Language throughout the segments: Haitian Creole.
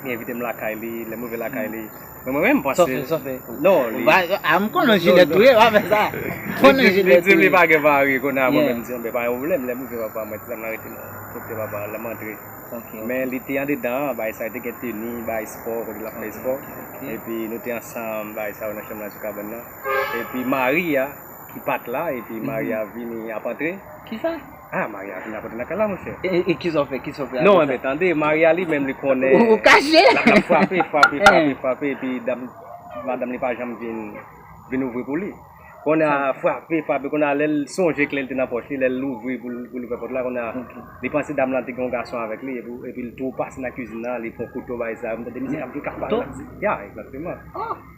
Li envite m lakay li, lè m rive lakay li, men mwen menm paske... Sòfe, sòfe. Non, li... A, m konnen jilèt ou ye, w ap fè sa. M konnen jilèt ou ye. Li di m li pa gen mari kounye a, mwen menm m di, anben pa gen pwoblèm, lè m rive papa mwen, ti dam nan rete nan kote papa l, lè m antre. Ok. Men li te andedan, bagay sa yo te gen teni, bagay espò, kote l ap fè espò. Ok. Epi nou te ansanm, bagay sa yo nan chanm nan sou kabann nan. Epi mari a. ki pat la epi Maria vini ap antre. Kisa? Ah Maria vini ap antre nan kay la monchè. E kisa ou fè? Kisa ou fè apre sa? Non anben tande, Maria li menm li konnen. Ou kache? Lap frape, frape, frape, frape epi dam madanm li pa janm vin vin ouvri pou li. Kounye a frape, frape kounye a lèl sonje kle li te nan pòch li, lèl louvri poul poul ouvè pòt la kounye a li panse dam lan te gen yon gason avèk li epi epil tou pase nan kizin nan li pran kouto bay Zara, m tande misye ap vin kap pale la. Ya, egzakteman.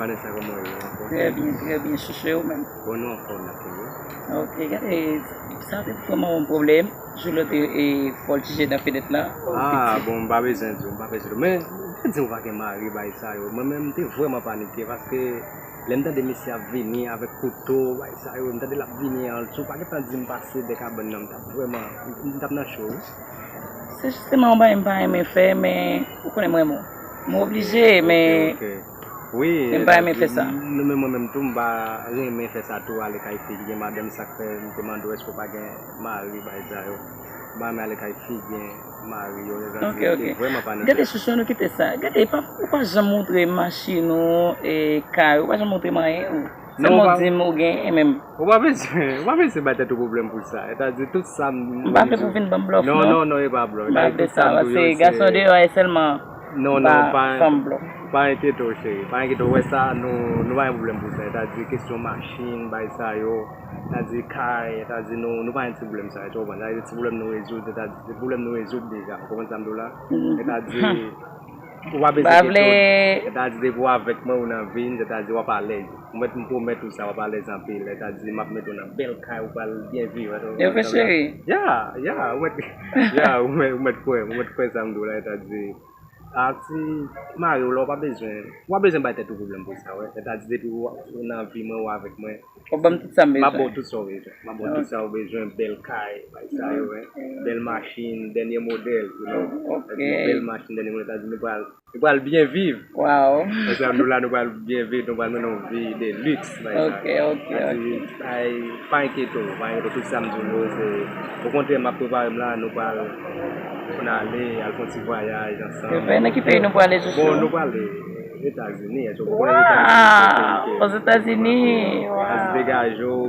Vanessa kòman ou ye ou anfòm? Trè byen trè byen chouchou e ou menm? Bon nou anfòm la tou wi. Ok gade sa te fòm an pwoblèm jou lòt e fò l jije nan fenèt la. Ah bon m pa bezwen di w m pa bezwen di w men m te di w pa gen mari bagay sa yo mwen menm m te vrèman panike paske Lè m tande mesye ap vini avèk kouto, bagay sa yo, m tande l ap vini an ltou, pa gen tan di m pase dè kabann nan, m t ap vrèman, m t ap nan cho wi. Se jisteman yon bagay m pa renmen fè, men ou konnen m renmen w. M oblije, men m pa renmen fè sa. Wi, men mwen menm tou m pa renmen fè sa tou, ale kay fi ki gen madanm, sa k fè m te mande w èske w pa gen mari, bagay sa yo. M pa renmen ale kay fi gen. Ok ok Gade chouchou an nou kite sa Gade ou pa janm moutre machin ou e kay ou Ou pa janm moutre m anyen ou Sèlman ou di m ou genyen men Ou pa bezwen bay tèt ou pwoblèm pou sa E ta di tout sa m M pa vle pou w vin ban m blòf non Non non e pa blòf M pa vle sa Paske gason deyò a e sèlman Non non pa Pa enkyete w cheri Pa enkyete w Ou wè sa nou pa gen pwoblèm pou sa E ta di kesyon machin bay sa yo ta di kay, ta di nou, nou pa gen ti pwoblèm sa yo, ti konprann? Sa vle di se ti pwoblèm nou rezoud, ta di se pwoblèm nou rezoud deja, ou konprann sa m di w la? Se ta di, ou pa bezwen gen tout, se ta di depi w avèk mwen ou nan vi m, se ta di w ap alèz, ou mèt m pwomèt ou sa w ap alèz anpil, se ta di m ap mete w nan bèl kay ou pral byen viv, èske w konprann sa m di w la? Ya, ya, ou mèt, ya, ou mèt kwè m, ou mèt kwè sa m di w la, se ta di. Ati mariw la ou pa bezwen Ou pa bezwen bay tèt ou pwoblèm pou sa wè Sèt a di depi ou nan vi mwen ou avèk mwen Wap banm tout sam bezwen Map baw tout saw bezwen Map baw tout sa ou bezwen bèl kay bay sa yo wè Bèl machin dènye modèl you know Sèt a di bèl machin dènye modèl Sèt a di nou pral Nou pral byen viv Waww Sèt a di nou la nou pral byen viv Nou pral mennen yon vi de lux. Ok ok ok. Pa enkyete w, pa enkyete w, tout sa m di w yo se, okontrè m ap prepare m la, nou pral konn ale, al fon ti vwayaj ansanm. Se vre, nan ki peyi nou prale Sousou? Bon nou prale Etazini, èske w konnen Etazini? Waww! Ozetazini, waww! Las Vegas, Jowou.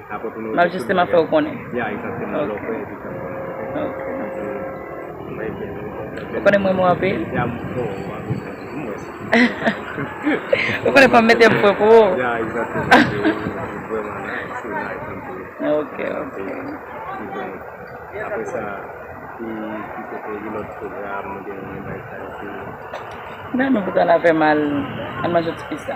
Map jisteman fèw konnen. Ou konnen m renmen w anpil. Ou konnen fòm mete pwen pou ou. Nan nou bouda la fè mal. An manje ti pizza.